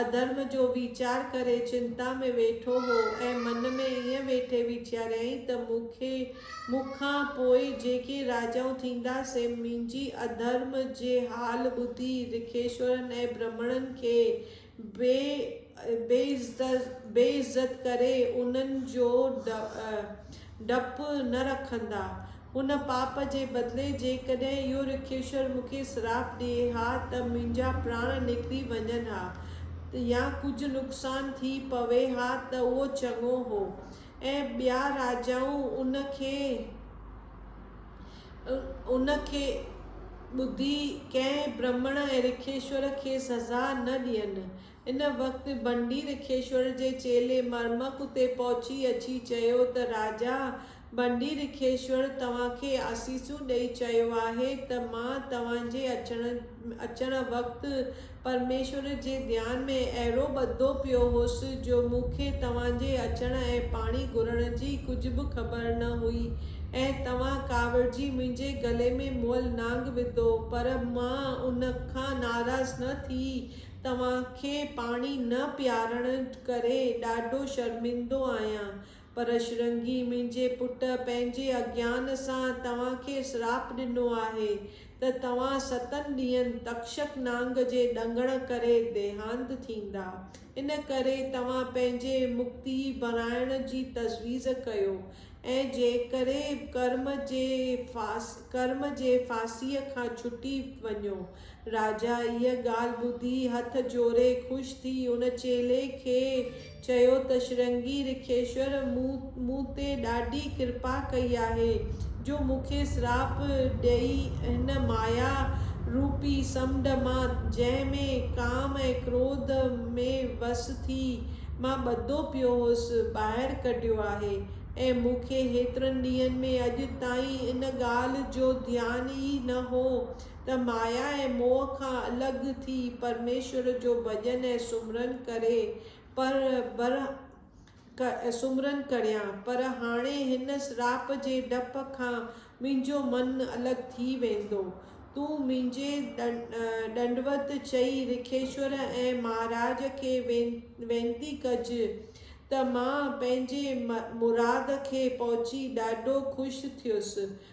اڌرم جو ويچار ڪري چنتا ۾ ويٺو هو ۽ من ۾ ائين ويٺي ويچاريائين ته مون کي مون کان پوء جيڪي راجائون ٿيندا سي منهنجي اڌرم جي حال ٻڌي رکيشورن ۽ برهمڻن کي بي عزت ڪري انهن جو ڊپ نه رکندا. هن پاپ جي بدلي جيڪڏهن اهو رکيشور مون کي سراپ ڏئي ها ته منهنجا پراڻ نڪري وڃن ها يا ڪجهه نقصان ٿي پوي ها ته اهو چڱو هو ۽ ٻيا راجائون ان کي ان کي ٻڌي ڪنهن برهمڻ ۽ رکيشور کي سزا نه ڏين. ان وقت بنڊي رکيشور جي چيلي مرمڪ اتي پهچي اچي چيو ته راجا بنڊي رکيشور توهان کي آسيسون ڏئي چيو آهي ته مان توهان جي اچڻ اچڻ وقت پرميشور جي ڌيان ۾ اهڙو ٻڌو پيو هوس جو مون کي توهان جي اچڻ ۽ پاڻي گهرڻ جي ڪجهه به خبر نه هئي ۽ توهان ڪاوڙجي منهنجي گلي ۾ مئل نانگ وڌو پر مان ان کان ناراض نه ٿي توهان کي پاڻي نه پيارڻ ڪري ڏاڍو شرمندو آهيان. پر شرنگي، منهنجي پٽ، پنهنجي اگيان سان توهان کي سراپ ڏنو آهي ته توهان ستن ڏينهن تڪشڪ نانگ جي ڏنگڻ ڪري ديهانت ٿيندا. ان ڪري توهان پنهنجي مڪتي بڻائڻ جي تجويز ڪيو ۽ جيڪري ڪرم جي ڦاسيء کان ڇٽي وڃو. راجا اهيء ڳالهه ٻڌي هٿ جوڙي خوش ٿي ان چيلي کي چيو ته شرنگي رکيشور مون تي ڏاڍي ڪرپا ڪئي آهي جو مون کي سراپ ڏئي هن مايا روپي سمنڊ مان جنهن ۾ ڪام ۽ ڪروڌ ۾ وس ٿي مان ٻڌو پيو هوس ٻاهر ڪڍيو آهي ۽ مون کي هيترن ڏينهن ۾ اڄ تائين ان ڳالهه جو ڌيان ئي نه هو ته مايا ۽ موهه کان الڳ ٿي پرميشور جو ڀڄن ۽ سمرن ڪري پر بر سمرن ڪريان پر هاڻي هن سراپ جي ڊپ کان منهنجو من الڳ ٿي ويندو تون منهنجي ڏنڊوت چئي رکيشور ۽ مهاراج کي وينتي ڪج ته مان پنهنجي مراد کي پهچي ڏاڍو خوش ٿيس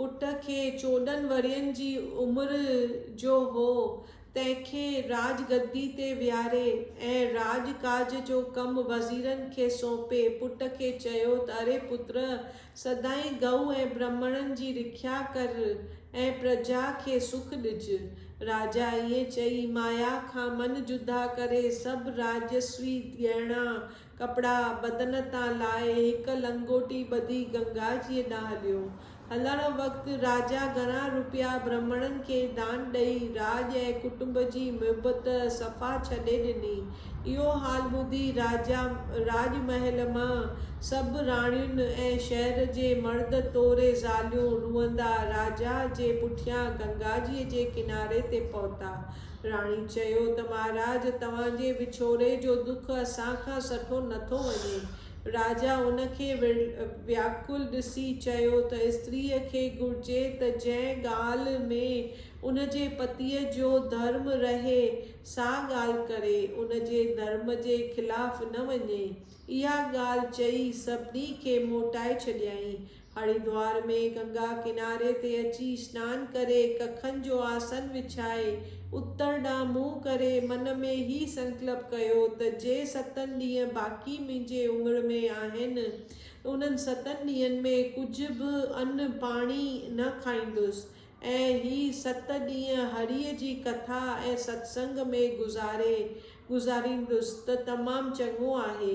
پٽ کي چوڏهن ورهين جي عمر جو هو، تنهن کي راڄ گدي تي ويهاري ۽ راڄ ڪاج جو ڪم وزيرن کي سونپي، پٽ کي چيو ته اري پتر! سدائين ڳئو ۽ برهمڻن جي رکيا ڪر ۽ پرجا کي سک ڏج. راجا ائين چئي، مايا کان من جدا ڪري، سڀ راجسوي ڳهڻا ڪپڙا بدن تان لاهي هڪ لنگوٽي ٻڌي گنگا جيء ڏانهن هليو. هلڻ وقت راجا گهڻا روپيا برهمڻن کي دان ڏئي راڄ ۽ ڪٽنب جي محبت صفا ڇڏي ڏني. اهو حال ٻڌي راجا راڄ محل مان سڀ راڻيون ۽ شهر جي مرد توڙي زاليون روئندا راجا جي پٺيان گنگا جيء جي ڪناري تي پهتا. راڻي چيو ته مهاراج توهان جي وڇوڙي جو دک اسان کان سٺو نه ٿو وڃي. راجا ان کي وياڪل ڏسي چيو ته استريء کي گهرجي ته جنهن ڳالهه ۾ ان جي پتيء جو ڌرم رهي سا ڳالهه ڪري، ان جي ڌرم جي خلاف نه وڃي. اها ڳالهه چئي سڀني کي موٽائي ڇڏيائين. هريدوار ۾ گنگا ڪناري تي اچي سنان ڪري، ڪکن جو آسن وڇائي، اتر ڏانهن منهن ڪري، من ۾ هي سنڪلپ ڪيو ته جي ستن ڏينهن باقي منهنجي عمر ۾ آهن، انهن ستن ڏينهن ۾ ڪجهه به ان پاڻي نه کائيندس ۽ هي ست ڏينهن هريء جي ڪٿا ۽ ستسنگ ۾ گذاري گذاريندس ته تمام چڱو آهي.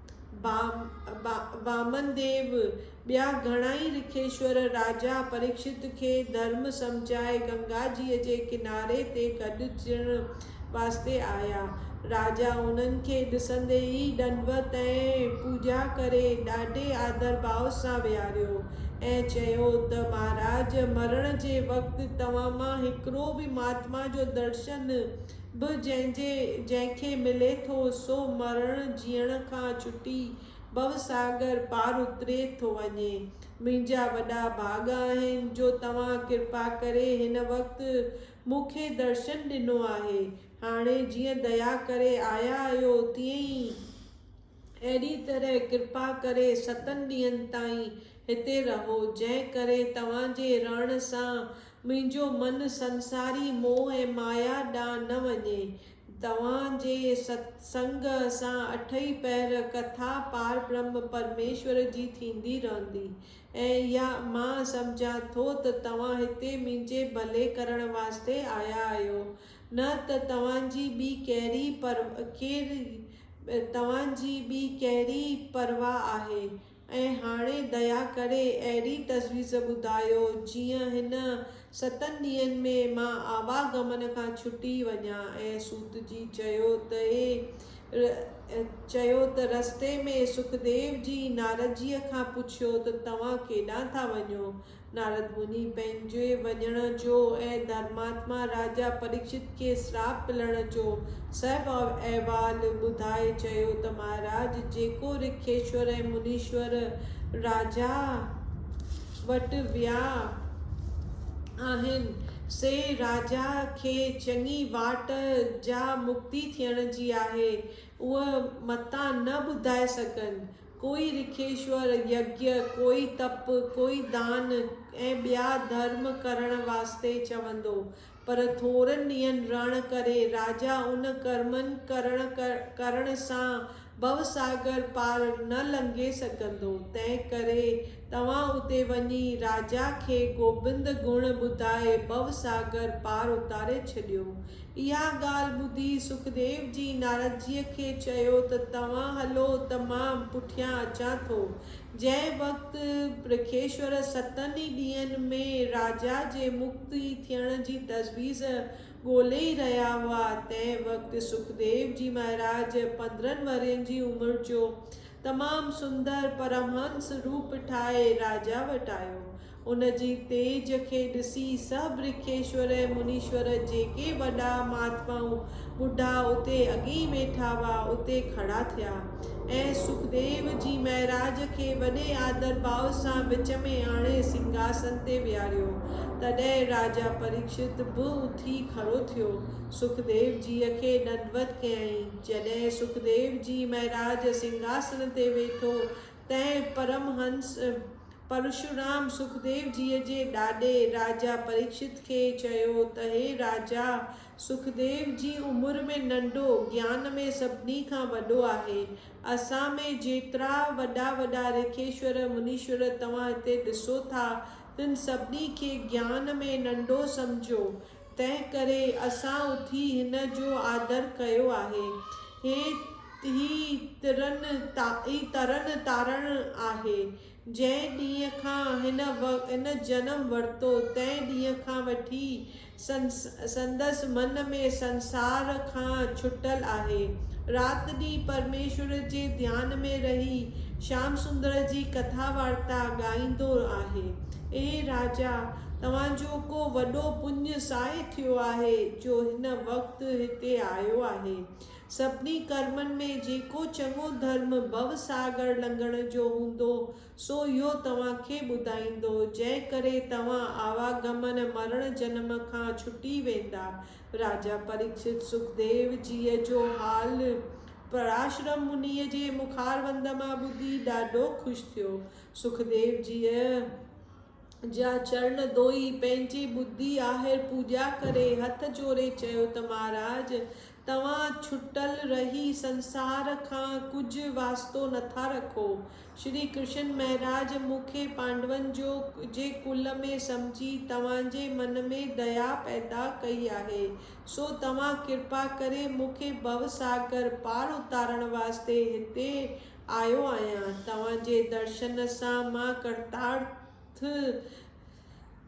وامن ديو، ٻيا گهڻائي رکيشور راجا پريڪشت کي ڌرم سمجهائي گنگاجيء جي ڪناري تي گڏجڻ واسطي آيا. راجا انهن کي ڏسندي ئي ڏنڊوت ۽ پوڄا ڪري ڏاڍي آڌرڀاء سان ويهاريو ۽ چيو ته مهاراج مرڻ جي وقت توهان مان هڪڙو به مهاتما جو درشن به جنهن جي جنهن کي ملي ٿو سو مرڻ جيئڻ کان ڇٽي ڀوساگر پار اتري ٿو وڃي. منهنجا وڏا ڀاڳ آهن جو توهان ڪرپا ڪري هن وقت مون کي درشن ڏنو آهي. هاڻي جيئن ديا ڪري آيا آهيو تيئن ئي. اهڙي طرح ڪرپا ڪري ستن ڏينهن تائين هتي رهو، جنهن ڪري توهان جي رهڻ سان منهنجو من سنساري موهه ۽ مايا ڏانهن نه وڃي. توهان جي ست سنگ سان اٺئي پهر ڪٿا پاربرهم پرميشور جي ٿيندي رهندي ۽ اها مان سمجهان ٿو ته توهان هتي منهنجي ڀلي ڪرڻ واسطي آيا آهيو نه ته توهان جي ٻي ڪهڙي پر ڪير توهان جي ٻي ڪهڙي پرواهه آهي؟ ۽ هاڻي ديا ڪري اهڙي تجويز ٻڌايو جيئن هن ستن ڏينهن ۾ مان آوا گمن کان ڇٽي وڃان ۽ سوتجي چيو ته اي چيو ته رستي ۾ سکديو جي نارضيء کان پڇيو ته توهان ڪيڏانهن ٿا وڃو؟ نارد مني پنهنجي وڃڻ جو ۽ ڌرماتما راجا پريڪشت کي سراپ ملڻ جو سڀ احوال ٻڌائي چيو ته مهاراج جيڪو رکيشور ۽ منيشور راجا وٽ ويا آهن سي راجا کي چڱي واٽ جا مڪتي ٿيڻ جي آهي اهي متان نه ٻڌائي سگهن. ڪوئي رکيشور يگيا، ڪوئي تپ، ڪوئي دان ۽ ٻيا ڌرم ڪرڻ واسطي چوندو. پر ٿورن ڏينهن رهڻ ڪري راجا ان ڪرمن ڪرڻ ڪرڻ سان ڀوساگر پار نه لنگهي سگهندو. تنهن ڪري توهان اتي وڃي راجا کي گوبند گڻ ٻڌائي ڀو ساگر پار اتاري ڇڏيو. اها ڳالهه ٻڌي سکديو جي ناردجيء کي چيو ته توهان هلو ته مان پٺيان اچان ٿو. جنهن وقت پرکيشور ستن ئي ڏينهن ۾ راجا جي مڪتي ٿيڻ جي تجويز ڳولي ئي رهيا هئا، تنهن وقت سکديو جي مهاراج پندرهن ورهين جي عمر جو تمام سندر پرمهنس روپ ٺاهي راجا وٽ آيو. ان جي تيج کي ڏسي سڀ رکيشور ۽ منيشور جيڪي وڏا مهاتمائون ٻڍا اتي اڳيئي ويٺا هئا اتي کڙا ٿيا ۽ سکديو جي مهراج کي وڏي آدر ڀاء سان وچ ۾ آڻي سنگهاسن تي ويهاريو. تڏهن راجا پريڪشت به اٿي کڙو ٿيو سکديو جيء کي ڏنڊوت ڪيائين. جڏهن سکديو جي مهراج سنگهاسڻ تي ويٺو، تنهن پرمهنس پرشورام سکديو جيء جي ڏاڏي راجا پريڪشت کي چيو ته هي راجا! سکديو جي عمر ۾ ننڍو، گيان ۾ سڀني کان وڏو آهي. اسان ۾ جيترا وڏا وڏا رکيشور، منيشور توهان هتي ڏسو ٿا، تن سڀني کي گيان ۾ ننڍو سمجهو. تنهن ڪري اسان اٿي هن جو آدر ڪيو آهي. هي ئي ترن تارڻ آهي. جنهن ڏينهن کان هن جنم ورتو، تنهن ڏينهن کان وٺي سندس من ۾ سنسار کان ڇٽل آهي. رات ڏينهن پرميشور جي ڌيان ۾ رهي شيام سندر جي ڪٿا وارتا ڳائيندو آهي. اي راجا! توهان جو ڪو وڏو پڃ ساهي ٿيو آهي جو هن وقت هتي آيو آهي. سڀني ڪرمن ۾ جيڪو چڱو ڌرم ڀو ساگر لنگهڻ جو هوندو سو اهو توهان کي ٻڌائيندو جنهن ڪري توهان آواگمن مرڻ جنم کان ڇٽي ويندا. راجا پريڪشت سکديو جيء جو حال پراشرم منيء جي مخاروند مان ٻڌي ڏاڍو خوش ٿيو. سکديو جيء. جا چرڻ ڌوئي، پنهنجي ٻڌي آهر پوڄا ڪري، هٿ جوڙي چيو ته مهاراج! توهان ڇٽل رهي سنسار کان ڪجهه واسطو نٿا رکو. شري ڪرشن مهراج مون کي پانڊون جو جي ڪل ۾ سمجهي توهان جي من ۾ ديا پيدا ڪئي آهي، سو توهان ڪرپا ڪري مون کي ڀوساگر پار اتارڻ واسطي هتي آيو آهيان توهان جي درشن سان مان ڪرتارٿ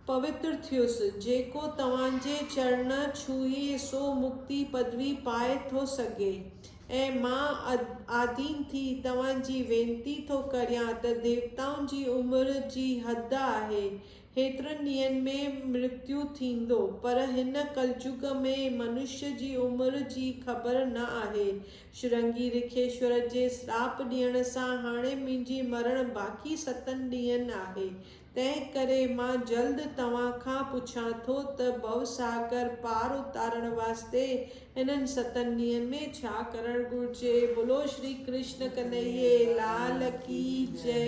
پوتر ٿيس، جيڪو توهان جي چرڻ ڇهي سو مڪتي پدوي پائي ٿو سگهي ۽ مان آڌين ٿي توهان جي وينتي ٿو ڪريان ته ديوتائن جي عمر جي حد آهي هيترن ڏينهن ۾ مرتيو ٿيندو، پر هن ڪلجگ ۾ منشيء جي عمر جي خبر نه آهي. شرنگي رکيشور جي سراپ ڏيڻ سان هاڻي منهنجي مرڻ باقي ستن ڏينهن آهي، تنهن ڪري مان جلد توهان کان پڇان ٿو ته ڀوساگر پار اتارڻ واسطي انهن ستن ڏينهن ۾ ڇا ڪرڻ گهرجي؟ بولو شري ڪرشن ڪنهيي لال ڪي جئي